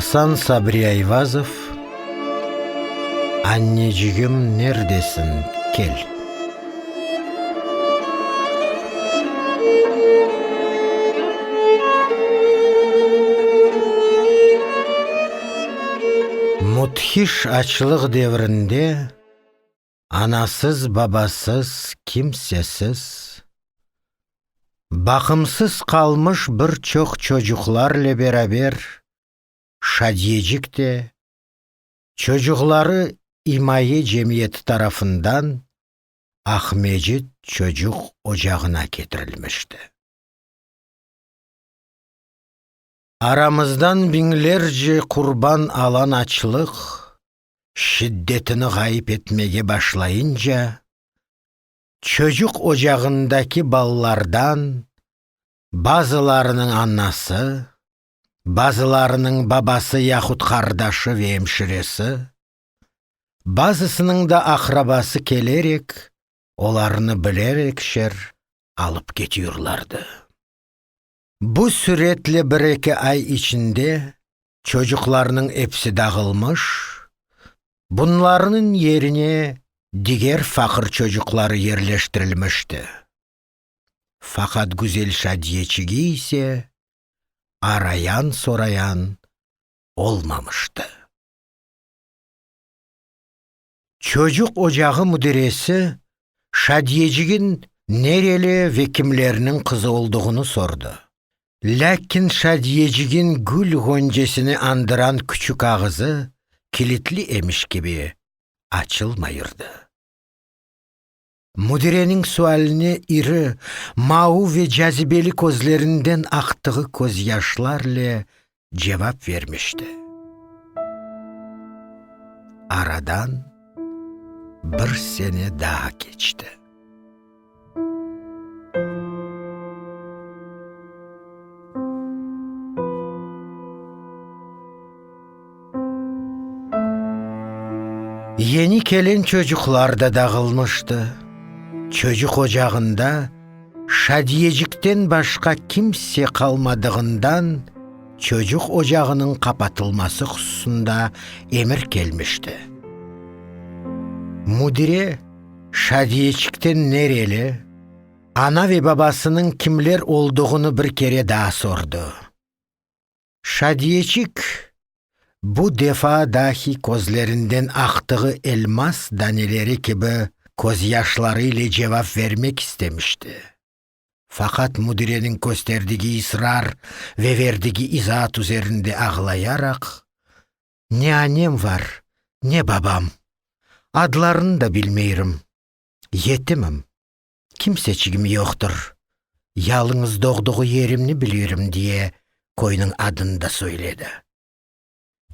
Asan Sabri Ayvazov Annecigim nerdesiñ, kel! Müthiş açlıq devrinde. anasız-babasız, kimsesiz, baqımsız qalmış bir çoq çocuqlarle beraber Şadiyecik de çocuqları imaye cemiyeti tarafından Aqmecit çocuq ocağına ketirilmişti. Aramızdan biñlerce qurban alan açlıq, şiddetini ğayıp etmege başlayınca, çocuq ocağındaki balalardan bazılarınıñ anası, bazılarınıñ babası yahut qardaşı ve emşiresi, bazısınıñ da aqrabası kelerek, olarnı bilerekşer alıp ketiyorlardı. Bu süretle bir-eki ay içinde çocuqlarnıñ episi dağılmış, bunlarnıñ yerine diger faqır çocuqları yerleştirilmişti. Faqat Güzel Şadiyeçigi ise arayan-sorayan olmamıştı. Çocuq ocağı müdiresi Şadiyecigin nereli ve kimlerniñ qızı olduğını sordı. Lâkin Şadiyecigin gül ğoncesini andıran küçük ağızı kilitli emiş kibi açılmayırdı. Müdireniñ sualine iri, mauv ve cazibeli közlerinden aqtığı közyaşlarle cevap vermişti. Aradan bir sene daa keçti. Yeni kelen çocuqlar da dağılmıştı. Çocuq ocağında Şadiyecikten başqa kimse qalmadığından, çocuq ocağınıñ qapatılması hususında emir kelmişti. Müdire Şadiyecikten nereli, ana ve babasınıñ kimler olduğını bir kere daa sordı. Şadiyeçik, bu defa dahi közlerinden aqtığı elmas daneleri kibi, közyaşları ile cevap vermek istemişti. Faqat müdireniñ kösterdigi israr ve verdigi izaat üzerinde ağlayaraq, Ne anem var, ne babam. Adlarını da bilmeyrim. Yetimim. kimseçigim yoqtır. Yalıñız doğduğu yerimni bilirim, diye köyniñ adını da söyledi.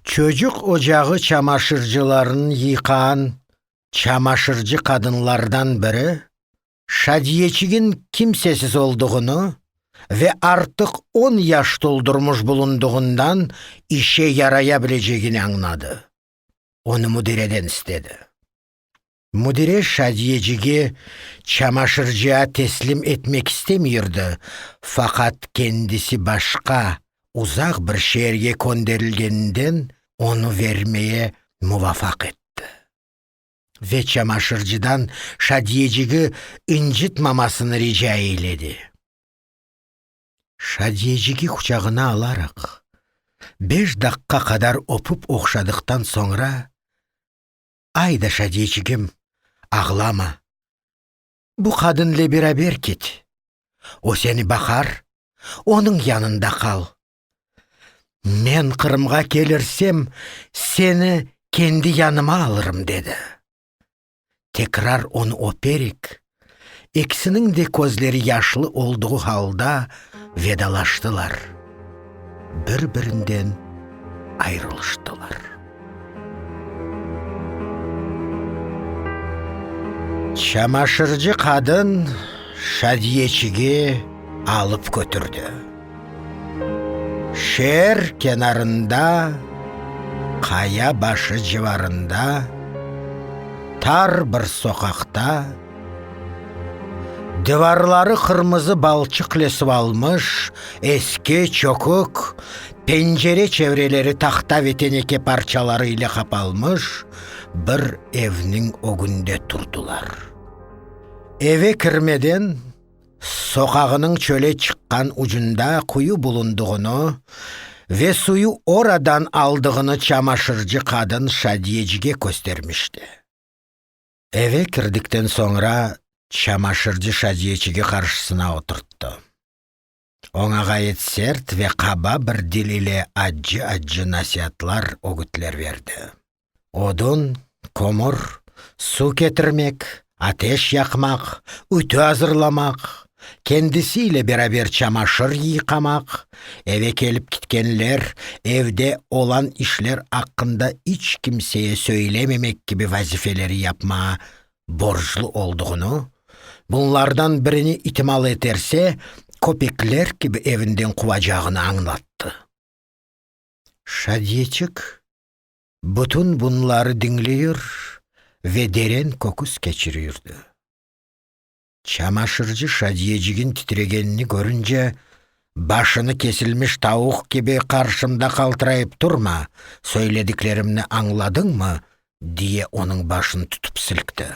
Çocuq ocağı çamaşırcılarını yıqan çamaşırcı qadınlardan biri Şadiyeçigin kimsesiz olduğunu ve artıq on yaş toldurmış bulundığından işe yaraya bilecegini añladı. Onı müdireden istedi. Müdire Şadiyecige çamaşırcıa teslim etmek istemiyirdi, faqat kendisi başqa, uzaq bir şeerge könderilgeninden onı vermeye muvafaq etti. Ve çamaşırcıdan Şadiyecigi incitmamasını rica eyledi. Şadiyecigi quçağına alaraq, beş daqqa qadar öpüp oqşadıqtan soñra, Ayda, Şadiyçigim, ağlama. Bu qadınle beraber ket. O seni baqar, onıñ yanında qal. Men Qırımğa kelirsem, seni kendi yanıma alırım, dedi. Tekrar onı öperik, İkisiniñ de közleri yaşlı olduğu halda vedalaştılar, bir-birinden ayrılıştılar. Çamaşırcı qadın Şadiyeçige alıp kötürdi. Şeer kenarında, qaya başı civarında, tar bir soqaqta, divarları qırmızı balçıq lesip almış eski çökük, pencere çevreleri tahta ve teneke parçaları ile qapalmış bir evniñ ögünde turdılar. Eve kirmeden. soqağınıñ çöle çıqqan ucunda quyu bulundığını ve suyu oradan aldığını çamaşırcı qadın Şadiyecige köstermişti. Eve kirdikten soñra çamaşırcı Şadiyecigi qarşısına oturttı. Oña ğayet sert ve qaba bir dil ile accı-accı nasiatlar, ögütler berdi. Odun, kömür, suv ketirmek, ateş yaqmaq, ütü azırlamaq, kendisi ile beraber çamaşır yıyqamaq, eve kelip kitkenler, evde olan işler aqqında iç kimseye söylememek kibi vazifeleri yapmağa borclu olduğını, bunlardan birini itimal eterse, köpekler kibi evinden quvacağını añlattı. Şadiyeçik bütün bunları diñleyir ve deren köküs keçirirdi. Çamaşırcı Şadiyecigin titregenini körünce, Başını kesilmiş tavuq kibi qarşımda qaltırayıp turma, söylediklerimni añladıñmı? diye onıñ başını tutıp silkti.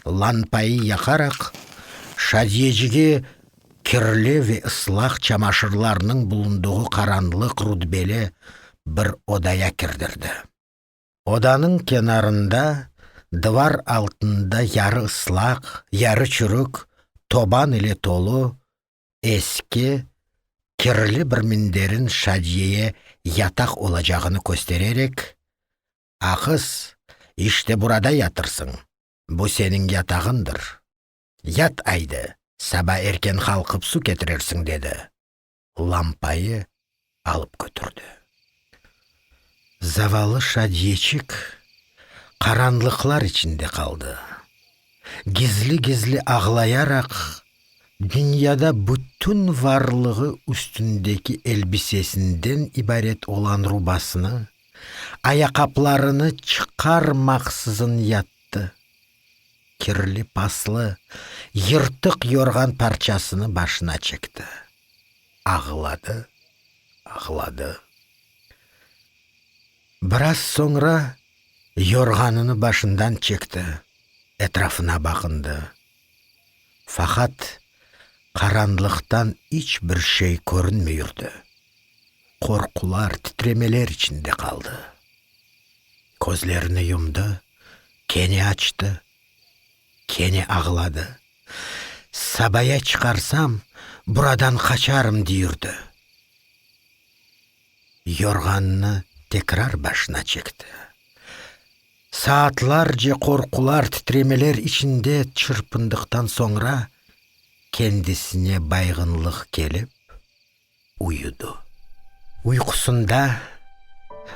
Lampayı yaqaraq, Şadiyecigi kirli ve ıslaq çamaşırlarnıñ bulundığı qaranlıq rutbeli bir odaya kirdirdi. Odanıñ kenarında, divar altında yarı ıslaq, yarı çürük, toban ile tolu, eski, kirli bir minderin Şadiyeye yataq olacağını köstererek, A qız, işte burada yatırsıñ, bu seniñ yatağındır. Yat aydı, saba erken qalqıp su ketirersiñ, dedi. lampayı alıp kötürdi. Zavallı Şadiyeçik qaranlıqlar içinde qaldı. Gizli-gizli ağlayaraq, dünyada bütün varlığı üstündeki elbisesinden ibaret olan rubasını, ayaqaplarını çıqarmaqsızın yattı. Kirli paslı, yırtıq yorğan parçasını başına çekti. Ağladı, ağladı. Biraz soñra yorğanını başından çekti, etrafına baqındı. Faqat, qaranlıqtan iç bir şey körünmey yürdi. Qorqular, titremeler içinde qaldı. Közlerini yumdı. Kene açtı, kene ağladı. Sabaya çıqarsam, buradan qaçarım, deyirdi. Yorğannı tekrar başına çekti. Saatlarce qorqular, titremeler içinde çırpındıqtan soñra, kendisine bayğınlıq kelip, Uyudı. Uyqusında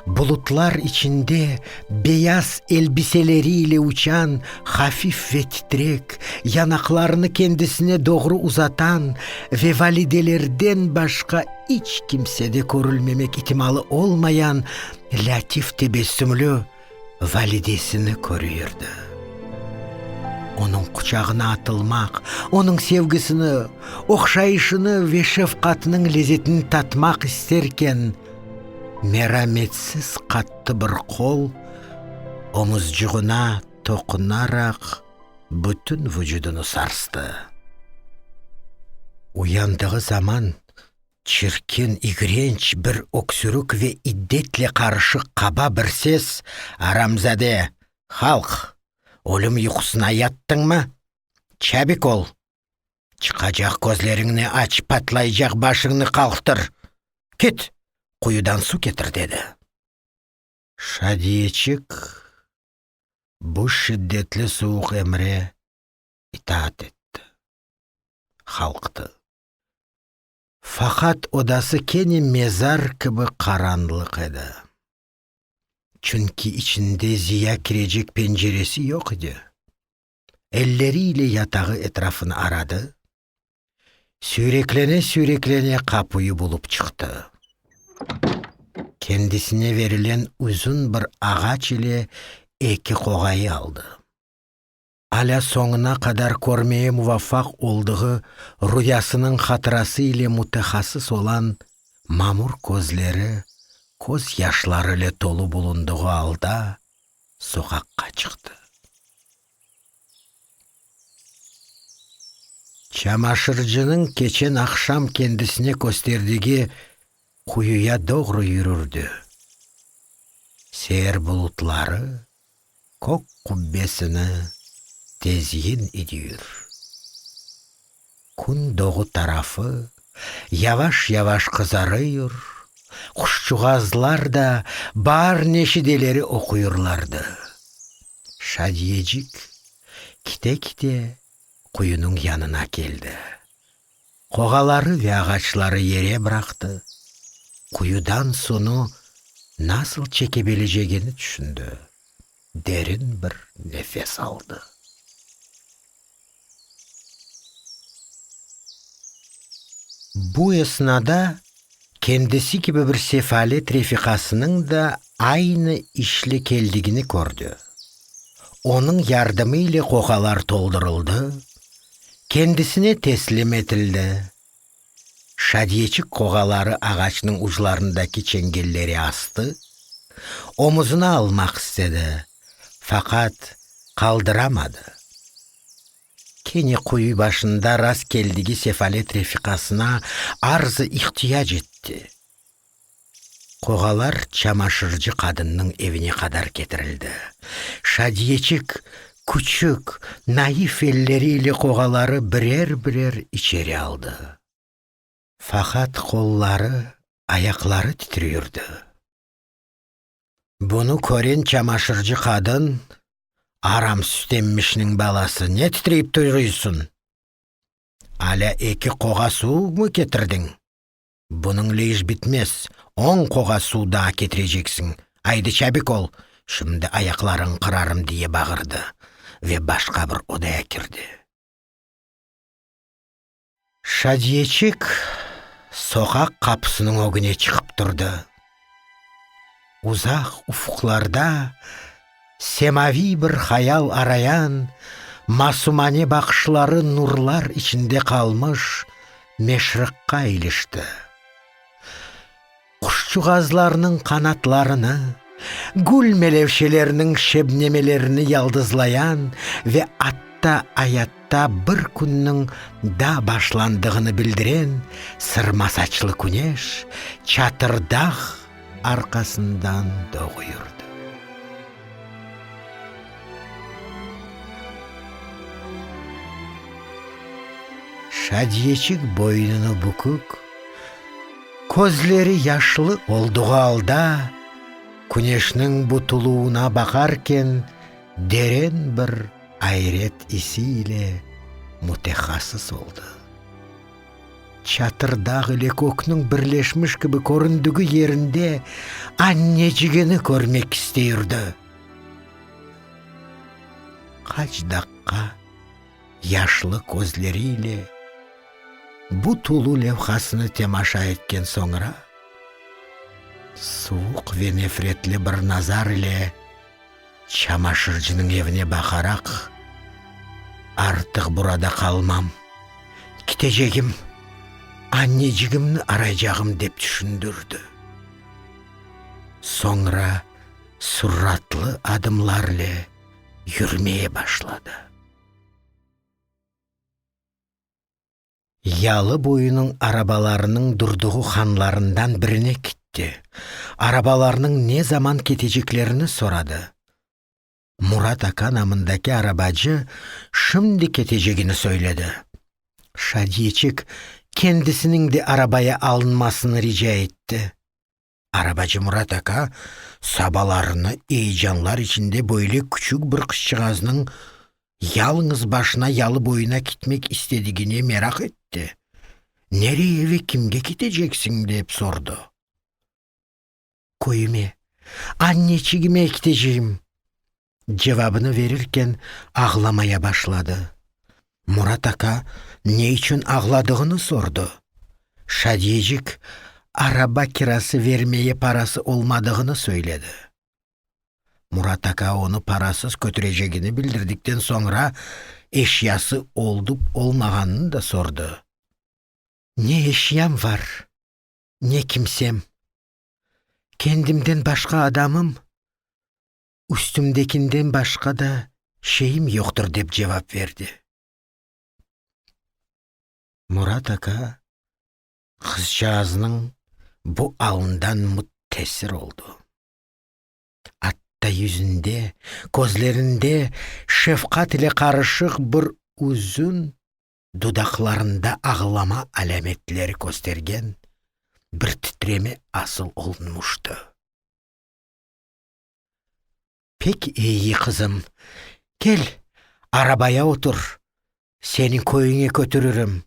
bulutlar içinde beyaz elbiseleri ile uçan hafif ve titrek, yanaqlarını kendisine doğru uzatan ve validelerden başqa iç kimsede körülmemek itimalı olmayan lâtif tebessümlü, validesini körüirdi. Onıñ quçağına atılmaq, onıñ sevgisini, oqşayışını ve şefqatınıñ lezetini tatmaq isterken, merametsiz qattı bir qol omuzcığına toqunaraq bütün vucudını sarstı. Uyandığı zaman Çirkin, igrenç bir öksürük ve iddetle qarışıq qaba bir ses, Aramzade, halq, ölüm yuqusına yattıñmı? Çabik ol! Çıqacaq közleriñni aç, patlaycaq başıñnı qalqtır! Kit, quyudan su ketir! dedi. Şadiyeçik bu şiddetli suvuq emre itaat etti. Qalqtı. Faqat odası kene mezar kibi qaranlıq edi. Çünki içinde ziya kirecek penceresi yoq edi. Elleri ile yatağı etrafını aradı, süyreklene-süyreklene qapuyi bulıp çıqtı. Kendisine verilen uzun bir ağaç ile eki qoğayı aldı. alâ soñuna qadar körmeye muvafaq oldığı rüyasınıñ hatırası ile mütehassıs olan mamur közleri köz yaşları ile tolu bulundığı alda soqaqqa çıqtı. Çamaşırcınıñ keçen aqşam kendisine kösterdigi quyuya doğru yürürdi. Seer bulutları Kök qubbesini tezyin idüür. Kün doğu tarafı yavaş-yavaş qızarıur, quşçuğazlar da bar neşideleri oquurlardı. Şadiyecik kite-kite quyunıñ yanına keldi. Qoğaları ve ağaçları yere bıraqtı, quyudan sunu nasıl çekebilecegini tüşündi, derin bir nefes aldı. Bu esnada Kendisi kibi bir sefalet refiqasınıñ da aynı işle keldigini kördi. Onıñ yardımı ile qoqalar toldurıldı, kendisine teslim etildi. Şadiyeçik qoqaları ağaçnıñ uclarındaki çengelleri astı, omuzına almaq istedi, faqat qaldıramadı. Kene quyu başında rastkeldigi sefalet refiqasına arzı ihtiyac etti. Qoğalar çamaşırcı qadınnıñ evine qadar ketirildi. Şadiyeçik, küçük, naif elleri ile qoğaları birer-birer içeri aldı. Faqat qolları, ayaqları titrüyurdı. Bunı kören çamaşırcı qadın, Aram sütemmişniñ balası, ne titreyip tuygıysın? Alâ eki qoğa suvmı ketirdiñ? Bunıñle iş bitmez, on qoğa suv daa ketireceksin, aydı çabik ol, şimdi ayaqlarıñ qırarım, diye bağırdı ve başqa bir odaya kirdi. Şadiyeçik soqaq qapısınıñ ögüne çıqıp turdı. Uzaq ufqlarda semaviy bir hayal arayan, masumane baqışları nurlar içinde qalmış Meşriqqa ilişti. Quşçuğazlarnıñ qanatlarını, gül melevşeleriniñ şebnemelerini yaldızlayan ve atta ayatta bir künniñ da başlandığını bildiren sırma saçlı küneş çatır dağ arqasından doğu yurdı. Şadiyeçik boynunı bükük. Közleri yaşlı oldığı alda, küneşniñ butuluvına baqarken deren bir ayret isi ile mütehasıs oldı. Çatırdağ ile kökniñ birleşmiş kibi köründügi yerinde annecigini körmek istey urdı. Qaç daqqa. Yaşlı közleriyle bu tulu levhasını temaşa etken soñra, suvuq ve nefretli bir nazar ile çamaşırcınıñ evine baqaraq, Artıq burada qalmam, kitecegim, annecigimni araycağım, dep tüşündirdi. Soñra suratlı adımlarle yürmeye başladı. Yalı boyunıñ arabalarınıñ durduğu hanlarından birine kitti, arabalarnıñ ne zaman keteceklerini soradı. Murat aka namındaki arabacı şimdi ketecegini söyledi. Şadiyeçik kendisiniñ de arabaya alınmasını rica etti. Arabacı Murat aka sabalarını eyecanlar içinde böyle küçük bir qızçığaznıñ yalıñız başına yalı boyuna kitmek istedigine meraq etti. Nereye ve kimge kiteceksiñ? dep sordı. Köyüme, anneçigime kiteceyim. Cevabını verirken ağlamaya başladı. Murat aka ne içün ağladığını sordı. Şadiyecik araba kirası vermeye parası olmadığını söyledi. Murat aka onı parasız kötürecegini bildirdikten soñra eşyası olıp-olmağanını da sordı. Ne eşyam var, ne kimsem. Kendimden başqa adamım üstümdekinden başqa da şeyim yoqtır, dep cevap berdi. Murat aka qızcağaznıñ bu alından müttesir oldı. Atta yüzünde, közlerinde şefqat ile qarışıq bir üzün, dudaqlarında ağlama alâmetleri köstergen bir titreme asıl olunmıştı. Pek eyi, qızım. Kel, arabaya otur, seni köyüñe kötüririm.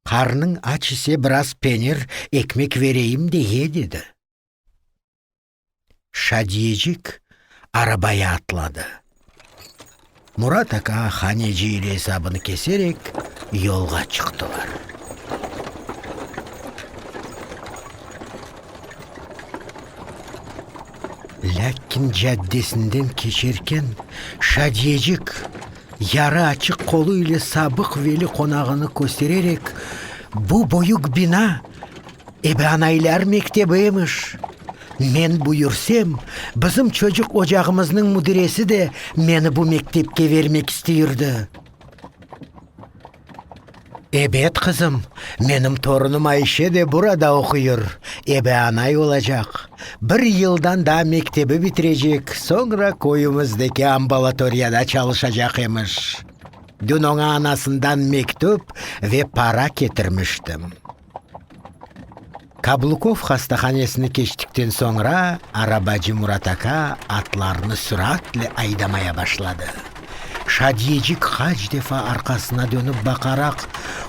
Qarnıñ aç ise, biraz penir, ekmek vereyim de ye, dedi. Şadiyecik arabaya atladı. Murat aka haneci ile esabını keserek, yolğa çıqtılar. Lâkin caddesinden keçerken Şadiyecik yarı açıq qolu ile Sabıq Veli qonağını köstererek, Bu büyük bina İbranaylar mektebi emiş. Men buyursem, bizim çocuq ocağımıznıñ müdiresi de meni bu mektepke vermek isteyirdi. Ebet, qızım, menim torunım Ayşe de burada oquyır, ebeanay olacaq. Bir yıldan daa mektebi bitirecek, soñra köyümizdeki ambulatoriyada çalışacaq emiş. Dün oña anasından mektüp ve para ketirmiştim. Kablukov hastahanesini keçtikten soñra, arabacı Murat aka atlarnı süratle aydamaya başladı. Şadiyecik qaç defa arqasına dönip baqaraq,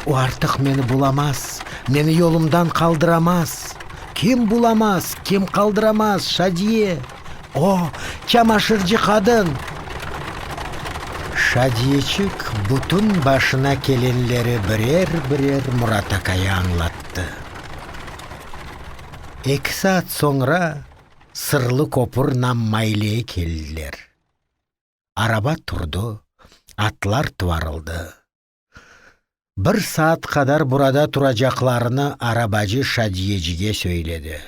O artıq meni bulamaz, meni yolumdan qaldıramaz! Kim bulamaz, kim qaldıramaz, Şadiye? O, çamaşırcı qadın! Şadiyeçik bütün başına kelenleri birer-birer Murat akaya añlattı. Eki saat soñra Sırlı köpür nam Mayleye keldiler. Araba turdı, atlar tuvarıldı. Bir saat qadar burada turacaqlarını arabacı Şadiyecige söyledi.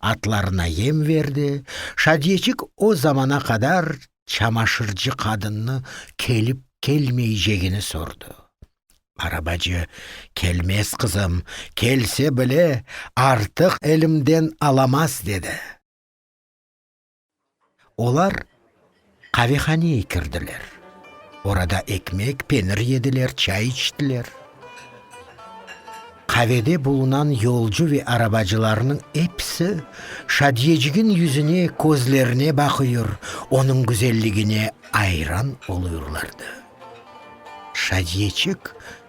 Atlarına yem verdi, Şadiyecik o zamana qadar çamaşırcı qadınnı kelip-kelmeycegini sordı. Arabacı, Kelmez, qızım, kelse bile, artıq elimden alamaz, dedi. Olar qavehaneye kirdiler. Orada ekmek, penir yediler, çay içtiler. Qavede bulunan yolcu ve arabacılarnıñ episi Şadiyecigiñ yüzüne, közlerine baqıyor, onıñ güzelligine ayran oluyurlardı. Şadiyeçik,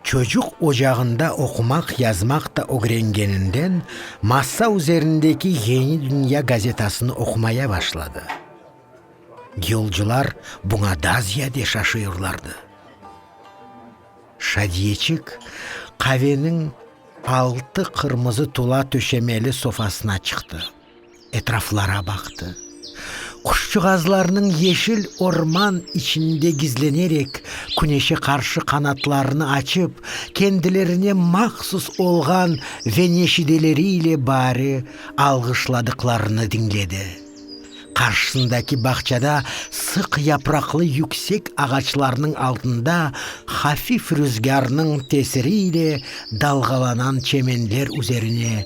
çocuq ocağında oqumaq-yazmaq da ögrengeninden, masa üzerindeki Yeni dünya gazetasını oqumaya başladı. Yolcular buña da ziyade şaşıyorlardı. Şadiyeçik, qaveniñ altı qırmızı tula töşemeli sofasına çıqtı. etraflara baqtı. Quşçığazlarnıñ yeşil orman içinde gizlenerek, küneşe qarşı qanatlarını açıp, kendilerine mahsus olğan ve neşideleri ile bari alğışladıqlarını diñledi. Qarşısındaki bağçada sıq yapraqlı yüksek ağaçlarnıñ altında hafif rüzgârnıñ tesiri ile dalğalanan çemenler üzerine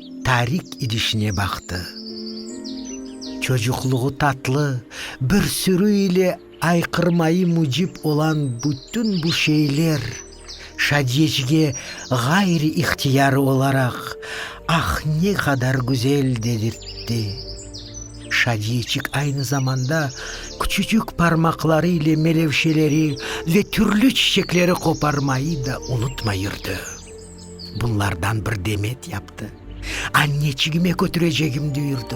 Tarik idişine baqtı. Çocuqluğı tatlı, bir sürü ile ayqırmayı mücib olan bütün bu şeyler Şadiyecige ğayri-ihtiyari olaraq, Ah, ne qadar güzel! dedirtti. Şadiyeçik aynı zamanda küçücük parmaqları ile melevşeleri ve türlü çiçekleri qoparmayı da unutmay yürdi. Bunlardan bir demet yaptı. Anneçigime kötürecegim düyürdi.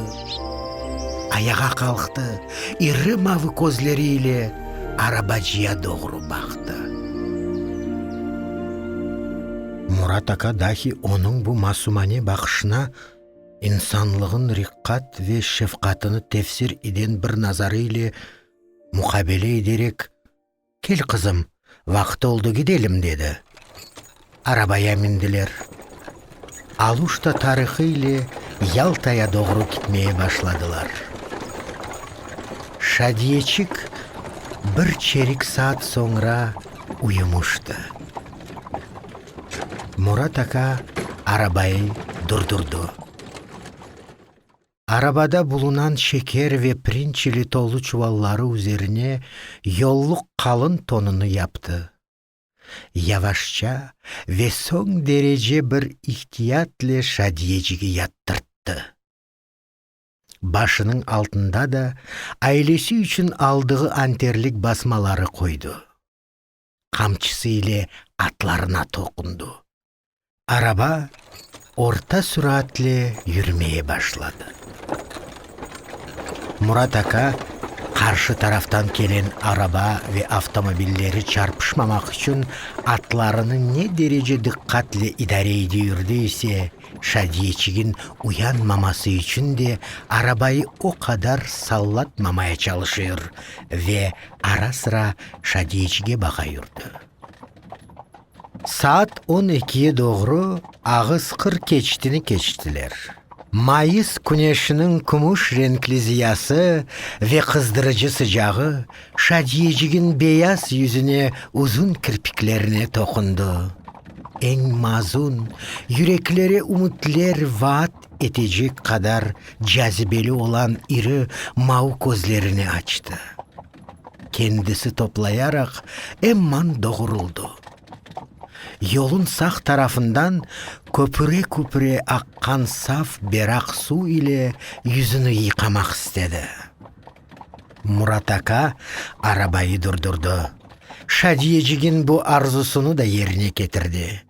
Ayağa qalqtı, iri mavı közleri ile arabacıya doğru baqtı. Murat aka dahi onıñ bu masumane baqışına insanlığın riqqat ve şefqatını tefsir eden bir nazarı ile muqabele ederek, Kel, qızım, vaqıt oldı, gidelim, dedi. Arabaya mindiler. Aluşta tarihı ile Yaltaya doğru kitmeye başladılar. Şadiyeçik bir çerik saat soñra uyumıştı. Murat aka arabayı durdurdı. Arabada bulunan şeker ve pirinç ile tolu çuvalları üzerine yolluq qalın tonunı yaptı. Yavaşça ve soñ derece bir ihtiyat'le Şadiyecigi yattırttı. Başınıñ altında da ailesi içün aldığı anterlik basmaları qoydı. qamçısı ile atlarına toqundı. Araba orta suraatli yürümeye başladı. Murat aka qarşı taraftan kelen araba ve avtomobilleri çarpışmamaq içün atlarını ne derece diqqatle idare ede yürdi ise, Şadiyeçigin uyanmaması içün de arabayı o qadar sallatmamaya çalışır ve Ara-sıra Şadiyeçige baqa yurdi. Saat on ekiye doğru ağız qırq keçtini keçtiler. Mayıs küneşiniñ kümüş renkli ziyası ve qızdırıcı sıcağı Şadiyecigiñ beyaz yüzüne uzun kirpiklerine toqundı. Eñ mazun, yüreklere ümütler vaat etecek qadar cazibeli olan iri mau közlerini açtı. Kendisi toplayaraq emman doğuruldı. Yolun sağ tarafından köpüre-köpüre aqqan saf beraq suv ile yüzüni yıqamaq istedi. Murat aka arabayı durdurdı. Şadiyecigin bu arzusını da yerine ketirdi.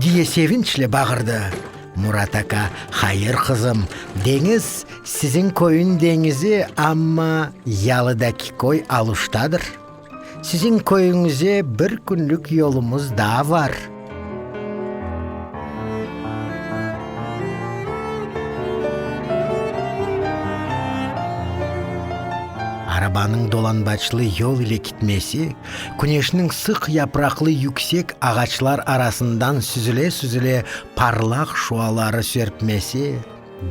Diye sevinçle bağırdı. Murat aka, Hayır, qızım, deñiz, siziñ köyüñ deñizi, amma yalıdaki köy aluştadır. Siziñ köyüñize bir künlük yolumız daa var. Arabanıñ dolanbaçlı yol ile kitmesi, Küneşniñ sıq yapraqlı yüksek ağaçlar arasından süzüle-süzüle parlaq şuaları serpmesi,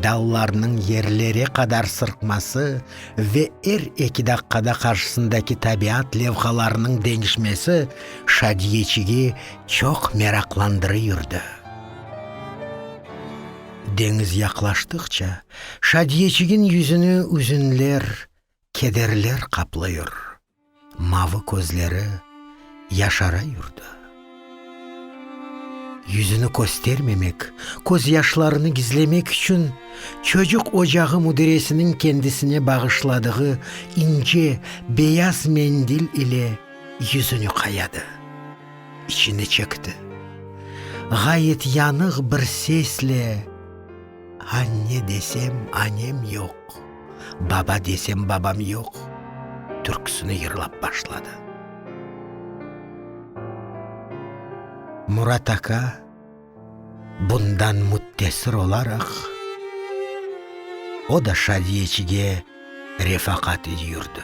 dallarnıñ yerlere qadar sırqması ve er eki daqqada qarşısındaki tabiat levhalarınıñ deñişmesi Şadiyeçigi çoq meraqlandırı yürdi. Deñiz yaqlaştıqça, Şadiyeçigin yüzüni üzünler, kederler qaplıyor. Mavı közleri yaşara yurdı. Yüzüni köstermemek, közyaşlarını gizlemek içün çocuq ocağı müdiresiniñ kendisine bağışladığı ince beyaz mendil ile yüzüni qayadı. İçini çekti. Ğayet yanıq bir sesle. Anne desem, anem yoq, baba desem, babam yoq, türküsini yırlap başladı. Murat aka bundan müttesir olaraq, o da Şadiyeçige refaqat yürdi.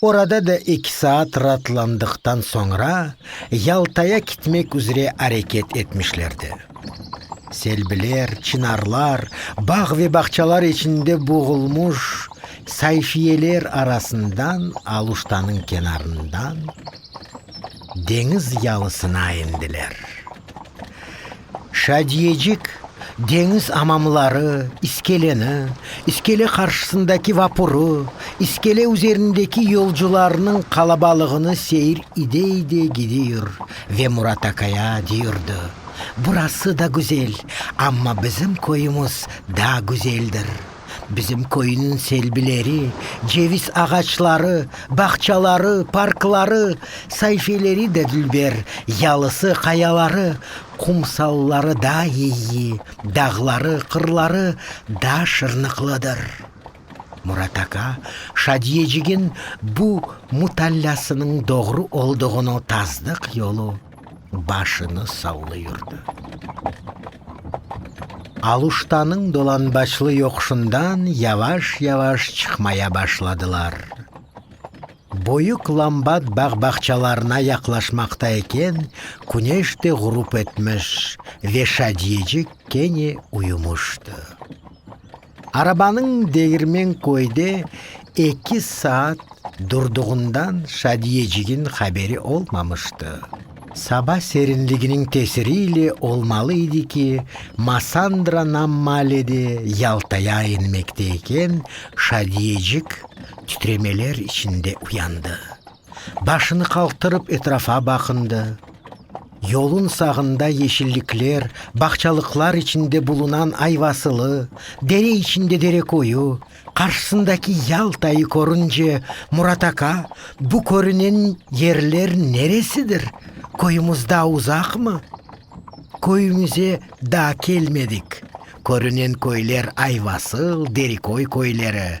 Orada da eki saat raatlandıqtan soñra Yaltaya kitmek üzre areket etmişlerdi. Selbiler, çinarlar, bağ ve bağçalar içinde boğulmuş sayfiyeler arasından Aluştanıñ kenarından deñiz yalısına endiler. Şadiyecik, deñiz amamları, iskeleni, iskele qarşısındaki vapurı, iskele üzerindeki yolcularnıñ qalabalığını seyir ide-ide gidiyor ve Murat akaya diyordı, Burası da güzel, amma bizim köyümüz daa güzeldir. Bizim köyniñ selbileri, ceviz ağaçları, bağçaları, parkları, sayfeleri de dülber, yalısı, qayaları, qumsalları da iyi, dağları, qırları da şırnıqlıdır. Murat aka Şadiyecigin bu mutallâsınıñ doğru olduğunu tasdıq yolu. başını sallay yurdi. Aluştanıñ dolanbaçlı yoquşından yavaş-yavaş çıqmaya başladılar. Büyük Lambat bağ-bağçalarına yaqlaşmaqta eken, küneş de ğurup etmiş ve Şadiyecik kene uyumıştı. Arabanıñ Degirmen köyde eki saat durdığından Şadiyecigin haberi olmamıştı. Saba serinliginiñ tesiri ile olmalı edi ki, Masandra nam malede yaltaya inmekte eken, Şadiyecik titremeler içinde uyandı. Başını qaldırıp etrafa baqındı. Yolun sağında yeşillikler, bağçalıqlar içinde bulunan ayvasılı, dere içinde derekoyu, qarşısındaki Yaltayı körünce, Murat aka, bu körünen yerler neresidir, köyümüz daa uzaqmı? Köyümüze daa kelmedik, körünen köyler ayvasıl, derekoy köyleri,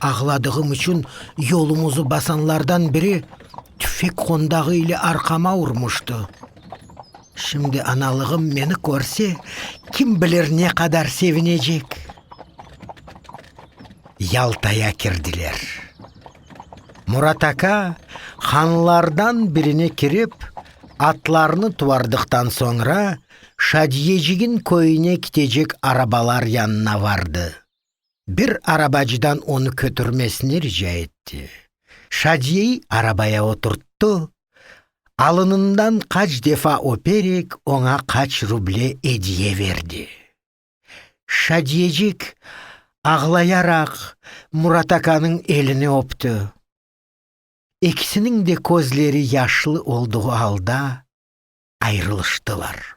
Ağladığım içün yolumızı basanlardan biri tüfek qondağı ile arqama urmıştı. Şimdi analığım meni körse, kim bilir ne qadar sevinecek. Yaltaya kirdiler. Murat aka, hanlardan birine kirip, atlarını tuardıqtan soñra, Şadiyecigin köyüne kitecek arabalar yanına vardı. Bir arabacıdan onı kötürmesini rica etti. Şadiyeyi arabaya oturttı, alınından qaç defa öperek oña qaç ruble ediye verdi. Şadiyecik ağlayaraq Muratakanıñ elini öpti. Ekisiniñ de közleri yaşlı olduğu alda ayrılıştılar.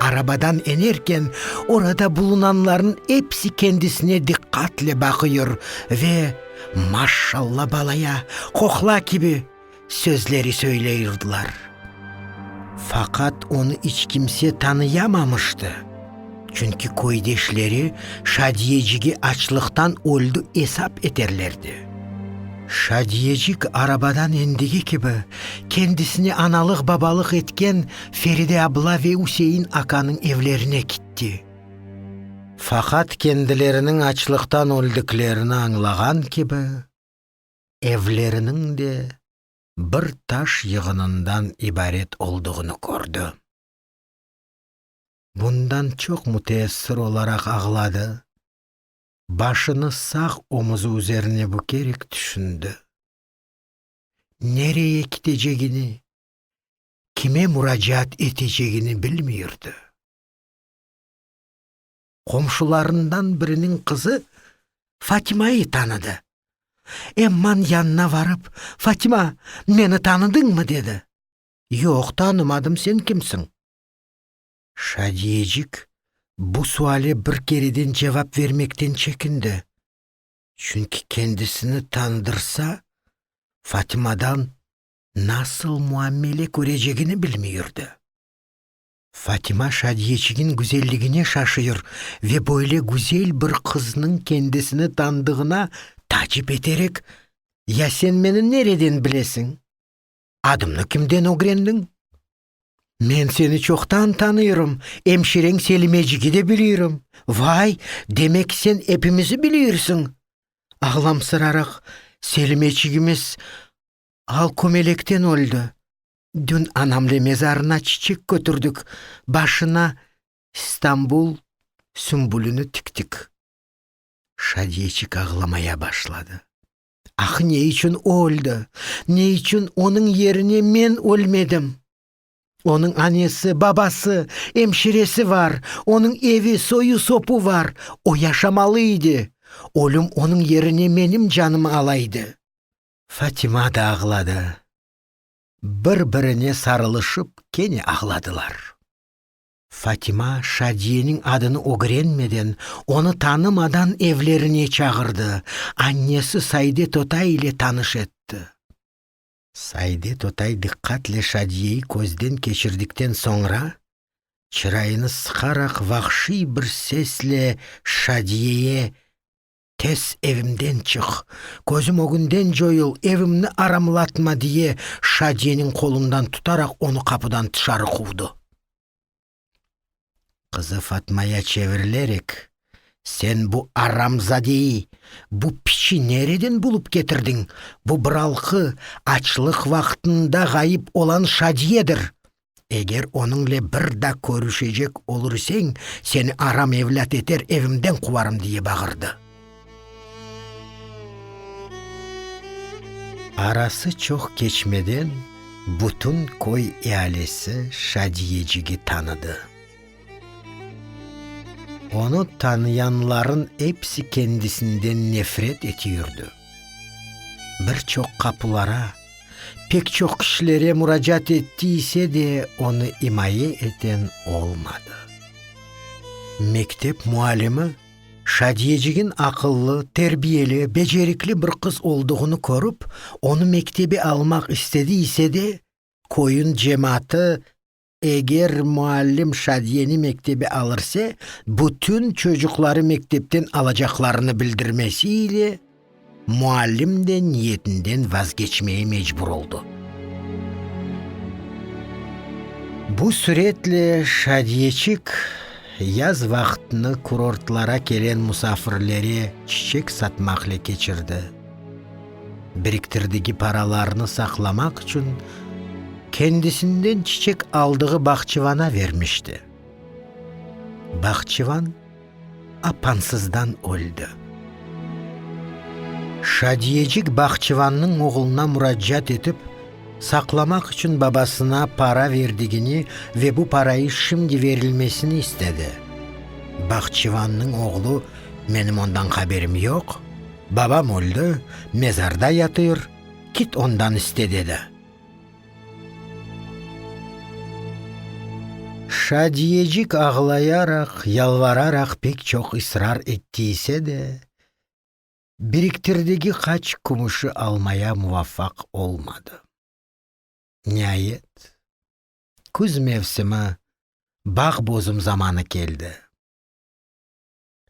Arabadan enerken, orada bulunanlarnıñ episi kendisine diqqatle baqıyor ve Maşşalla balaya, qoqla kibi sözleri söyleyrdılar. Faqat onı iç kimse tanıyamamıştı, çünki köydeşleri Şadiyecigi açlıqtan öldi esap eterlerdi. Şadiyecik arabadan endigi kibi, kendisine analıq-babalıq etken Feride abla ve Üsein akanıñ evlerine kitti. Faqat kendileriniñ açlıqtan öldüklerini añlağan kibi, evleriniñ de bir taş yığınından ibaret olduğını kördi. Bundan çoq müteessir olaraq ağladı, başını sağ omuzı üzerine bükerek tüşündi. Nereye kitecegini, kime muracaat etecegini bilmiyurdı. Qomşularından biriniñ qızı Fatimayı tanıdı. Emman yanına varıp, Fatima, meni tanıdıñmı? dedi. Yoq, tanımadım, sen kimsiñ? Şadiyecik bu suale bir kereden cevap vermekten çekindi. Çünki kendisini tanıdırsa, Fatimadan nasıl muamele körecegini bilmey yürdi. Fatima Şadiyeçigin güzelligine şaşıyır ve böyle güzel bir qıznıñ kendisini tanıdığına tacip eterek, Ya sen meni nereden bilesiñ? Adımnı kimden ögrendiñ? Men seni çoqtan tanıyrım, emşireñ Selimecigi de bilirim. Vay, demek sen epimizi bilirsiñ! Ağlamsıraraq, Selimeçigimiz Al kömelekten öldi. Dün anamle mezarına çiçek kötürdik, başına İstanbul sümbülüni tiktik. Şadiyeçik ağlamaya başladı. Ahı ne içün o öldi? Ne içün onıñ yerine men ölmedim? Onıñ anesi, babası, emşiresi var, onıñ evi, soyu-sopu var, o yaşamalı idi. Ölüm onıñ yerine menim canımı alaydı. Fatima da ağladı. Bir-birine sarılışıp kene ağladılar. Fatima Şadiyeniñ adını ögrenmeden, onı tanımadan evlerine çağırdı, annesi Saide totay ile tanış etti. Saide totay diqqatle Şadiyeyi közden keçirdikten soñra, çırayını sıqaraq vahşiy bir sesle Şadiyeye Tez evimden çıq, közüm ögünden coyul, evimni aramlatma, diye Şadiyeniñ qolundan tutaraq onı qapudan tışarı quvdı. Qızı Fatmaya çevirilerek, Sen bu aramzadeyi, bu piçi nereden bulıp ketirdiñ? Bu bıralqı, açlıq vaqtında ğayıp olan Şadiyedir. Eger onıñle bir daa körüşecek olurseñ, seni aram evlât eter, evimden quvarım, diye bağırdı. Arası çoq keçmeden bütün köy ealisi Şadiyecigi tanıdı. Onı tanıyanların episi kendisinden nefret eti yürdi. Bir çoq qapulara. Pek çoq kişilere muracaat etti ise de, onı imaye eten olmadı. Mektep muallimi Şadiyecigiñ aqıllı, terbiyeli, becerikli bir qız olduğını körip, onı mektebe almaq istedi ise de, köyüñ cemaatı Eger muallim Şadiyeni mektebe alırse, bütün çocuqları mektepten alacaqlarını bildirmesi ile, muallim de niyetinden vazgeçmeye mecbur oldı. Bu süretle Şadiyeçik yaz vaqtını kurortlara kelen musafirlere çiçek satmaqle keçirdi. Biriktirdigi paralarını saqlamaq içün kendisinden çiçek aldığı bahçıvana vermişti. Bahçıvan apansızdan öldi. Şadiyecik bahçıvannıñ oğluna muracaat etip, saqlamaq içün babasına para verdigini ve bu parayı şimdi verilmesini istedi. Bahçıvannıñ oğlu, Menim ondan haberim yoq. Babam öldi, mezarda yatır, kit ondan iste, dedi. Şadiyecik ağlayaraq, yalvararaq pek çoq israr etti ise de, biriktirdigi qaç kümüşi almaya muvafaq olmadı. Niayet, küz mevsimi, bağ bozum zamanı keldi.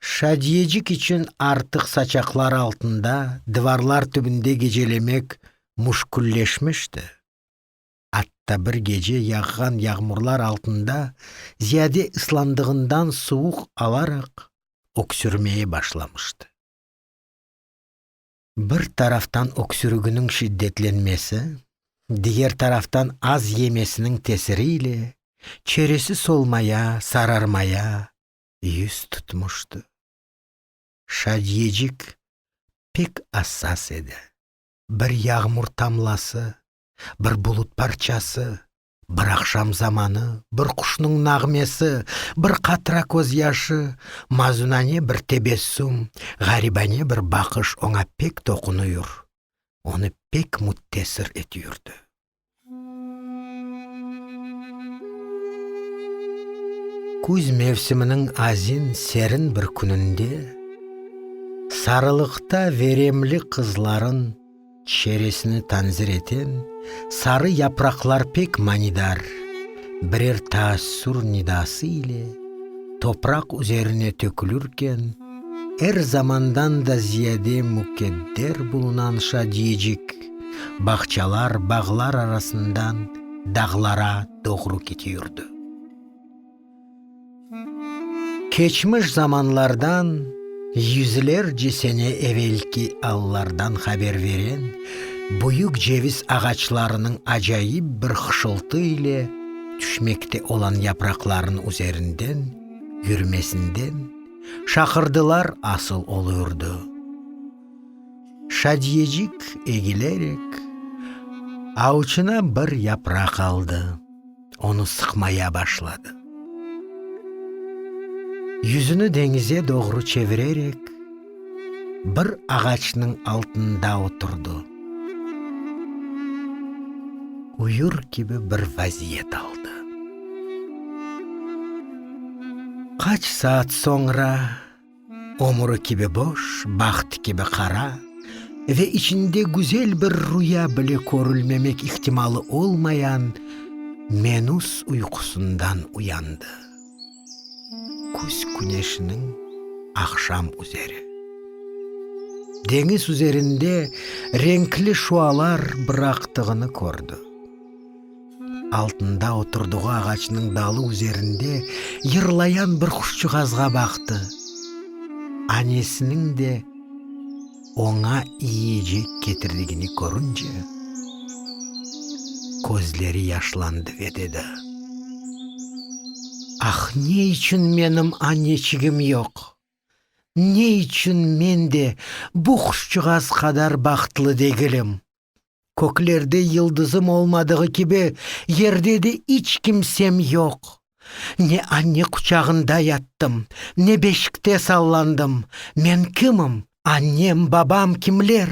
Şadiyecik içün artıq saçaqlar altında, divarlar tübünde gecelemek müşkülleşmişti. Atta bir gece yağğan yağmurlar altında ziyade ıslandığından suvuq alaraq, öksürmeye başlamıştı. Bir taraftan öksürüginiñ şiddetlenmesi, diger taraftan az yemesiniñ tesiri ile çeresi solmaya, sararmaya, yüz tutmuştı. Şadiyecik pek assas edi. Bir yağmur tamlası, bir bulut parçası, bir aqşam zamanı, bir quşnıñ nağmesi, bir qatra közyaşı, mazunane bir tebessüm, ğaribane bir baqış oña pek toqunuyur, onı pek müttesir etüyurdı. Küz mevsiminiñ azin serin bir kününde sarılıqta veremli qızların çeresini tanzir eten sarı yapraqlar pek manidar birer taassur nidası ile topraq üzerine tökülürken, er zamandan da ziyade mukadder bulunan şadiyecik, Bağçalar, bağlar arasından dağlara doğru ketiyordı. Keçmiş zamanlardan, yüzlerce sene evelki allardan haber veren büyük ceviz ağaçlarınıñ acayip bir hışıltı ile tüşmekte olan yapraqlarınıñ üzerinden yürmesinden şaqırdılar asıl olurdı. Şadiyecik egilerek, avçına bir yapraq aldı, onı sıqmaya başladı. Yüzüni deñize doğru çevirerek, bir ağaçnıñ altında oturdı. Uyur kibi bir vaziyet aldı. Qaç saat soñra Ömrü kibi boş, baht kibi qara ve içinde güzel bir rüya bile körülmemek ihtimalı olmayan menüs uyqusından uyandı. Küz küneşiniñ aqşam üzeri. Deñiz üzerinde renkli şualar bıraqtığını kördi. Altında oturdığı ağaçnıñ dalı üzerinde yırlayan bir quşçığazğa baqtı. Anesiniñ de oña yiyecek ketirdigini körünce, közleri yaşlandı ve dedi: Ah, ne içün menim aneçigim yoq? Ne içün men de bu quşçığaz qadar bahtlı degilim? Köklerde yıldızım olmadığı kibi, yerde de iç kimsem yoq. Ne anne quçağında yattım, ne beşikte sallandım. Men kimim, annem, babam kimler?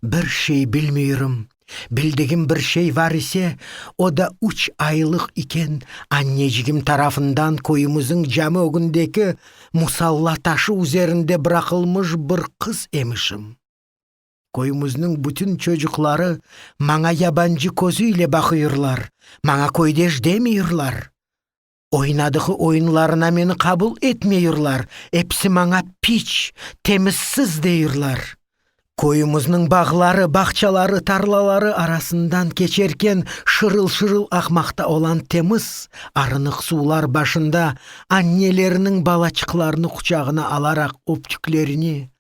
Bir şey bilmüyürüm. Bildigim bir şey var ise, o da üç aylıq iken annecigim tarafından köyümüziñ cami ögündeki musalla taşı üzerinde bıraqılmış bir qız emişim. Köyümizniñ bütün çocuqları maña yabancı közü ile baqıyırlar, maña köydeş demeyirlar. Oynadığı oyunlarına meni qabul etmeyirlar, episi maña piç, temizsiz deyirler. Köyümizniñ bağları, bağçaları, tarlaları arasından keçerken şırıl-şırıl aqmaqta olan temiz, arınıq suvlar başında anneleriniñ balaçıqlarını quçağına alaraq öpçüklerini,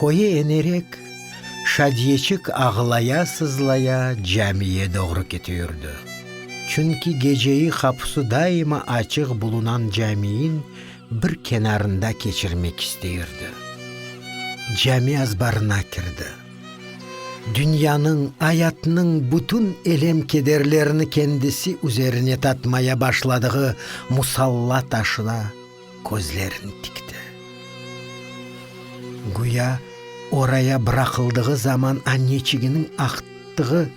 Köye enerek, Şadiyeçik ağlaya-sızlaya camiye doğru kete yürdi. Çünki geceyi qapusı daima açıq bulunan camiyin bir kenarında keçirmek isteyirdi. Cami azbarına kirdi. Dünyanıñ, ayatnıñ bütün elem-kederlerini kendisi üzerine tatmaya başladığı musalla taşına, közlerini tikti. Güya oraya bıraqıldığı zaman anneçiginiñ aqtığı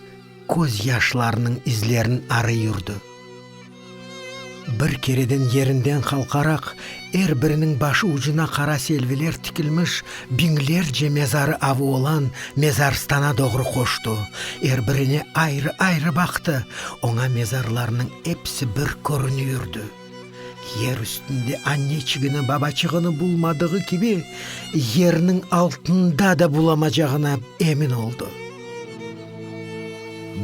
köz yaşlarınıñ izlerini arıy yurdi. Bir kereden yerinden qalqaraq, er biriniñ başı ucuna qara selviler tikilmiş biñlerce mezarı avı olan mezarstana doğru qoştı, er birine ayrı-ayrı baqtı, oña mezarlarnıñ episi bir körüni yurdi. Yer üstünde anneçigini, babaçığını bulmadığı kibi, yerniñ altında da bulamacağına emin oldı.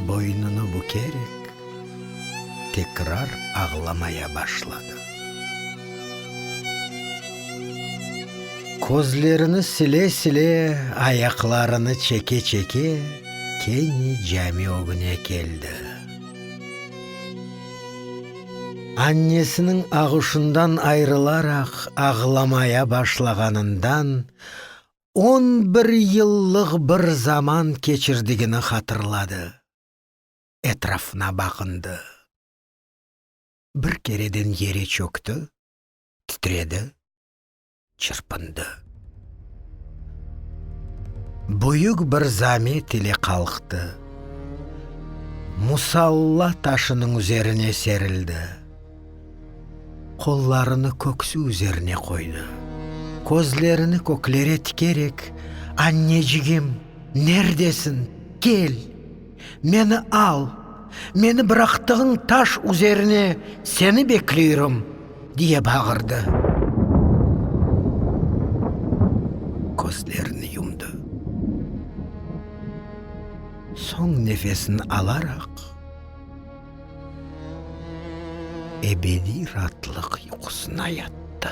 Boynunı bükerek, tekrar ağlamaya başladı. Közlerini sile-sile, ayaqlarını çeke-çeke kene cami ögüne keldi. Annesiniñ ağuşından ayrılaraq ağlamaya başlağanından on bir yıllıq bir zaman keçirdigini hatırladı. Etrafına baqındı. Bir kereden yere çökti, titredi. çırpındı. Büyük bir zamet ile qalqtı. Musalla taşınıñ üzerine serildi. Qollarını köksü üzerine qoydı. Közlerini köklere tikerek, Annecigim, nerdesiñ? Kel! Meni al, meni bıraqtığıñ taş üzerine seni bekleyrim! diye bağırdı. Közlerini yumdı. Soñ nefesini alaraq, ebediy raatlıq yuqusına yattı.